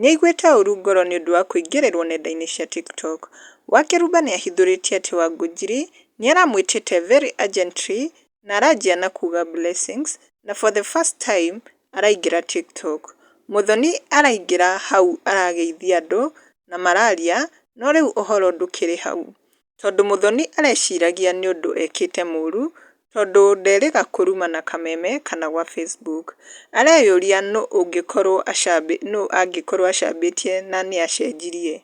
Nĩ aiguĩte ũũru ngoro nĩ ũndũ wa kũingĩrĩrũo nenda-inĩ cia TikTok. Wakeruba nĩ ahithũrĩtie atĩ Wangunjiri nĩ aramwĩtĩte very urgently na aranjia na kuuga blessings na for the first time araingĩra TikTok. Muthoni araingĩra hau arageithia andũ na mararia no rĩu ũhoro ndũkĩrĩ hau. Tondũ Muthoni areciragia nĩũndũ ekĩte mũru tondũ nderĩga kũruma na kameme kana gwa Facebook. Areyũria nũ angĩkorwo acambĩtie na nĩacenjirie.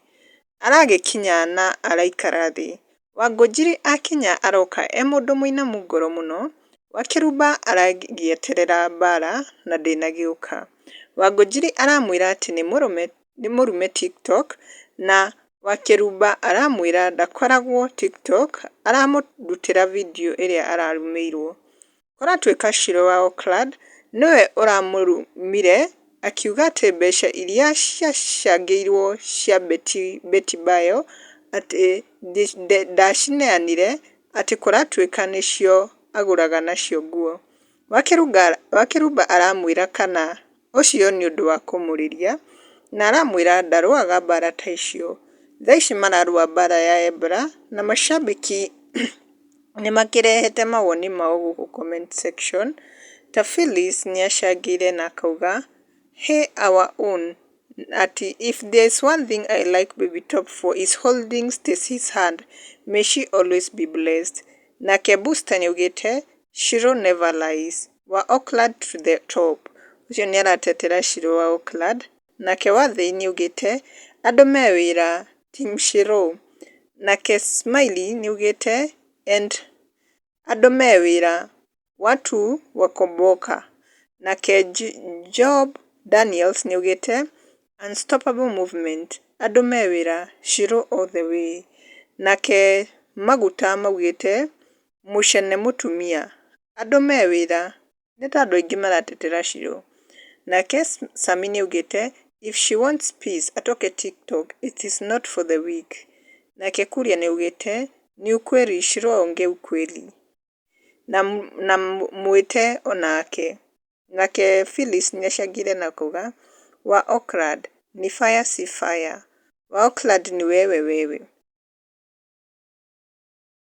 Aragĩkinya na araikara thĩ. Wangũnjiri akinya aroka e mũndũ mũinamu ngoro mũno. Wakĩrumba aragĩeterera mbara na ndĩnagĩũka. Wangũnjiri aramwĩra atĩ nĩ mũrũme nĩ mũrume tiktok na wakĩrumba aramwĩra ndakoragwo tiktok aramũrutĩra video ĩrĩa ararumĩirwo. Kũratuĩka Shiro wa Oakland nĩwe ũramũrumire akiuga atĩ mbeca iria ciacangĩirwo cia Beti Bayo atĩ ndacineanire atĩ kũratuĩka nĩcio agũraga nacio nguo. Wakĩrumba aramwĩra kana. ũcio nĩ ũndũ wa kũmũrĩria, na aramwĩra ndarũaga mbara ta icio. Thaa ici mararũa mbara ya Ebra, na macambĩki nĩ makĩrehete mawoni mao gũkũ comment section, ta Phyllis nĩ acangĩire na akauga, He our own atĩ if there is one thing I like baby top for is holding Stacey's hand, may she always be blessed. Nake Busta nĩ augĩte, Shiro never lies. Wa Oakland to the Top, ũcio nĩ aratetera Shirũ wa Oakland, nake wa Thĩinĩ augĩte, Andũ me wĩra, Team Shirũ. Nake Smiley nĩ augĩte, and Andũ me wĩra, Watu wako boka. Nake Job Daniels nĩ augĩte, Unstoppable Movement, Andũ me wĩra, Shirũ all the way. Nake Maguta maugĩte, Mũcene mũtumia. Andũ me wĩra. Nĩ ta andũ aingĩ maratetera Shiro. Nake Sami nĩaugĩte, If she wants peace, atoke TikTok, it is not for the weak. Nake Kuria nĩaugĩte, Ni ukweli, Shiro aongea ukweli. Na na mwĩte o nake. Nake Phyllis nĩacangĩre na kuga, Wa Oakland, ni fire si fire. Wa Oakland ni wewe wewe.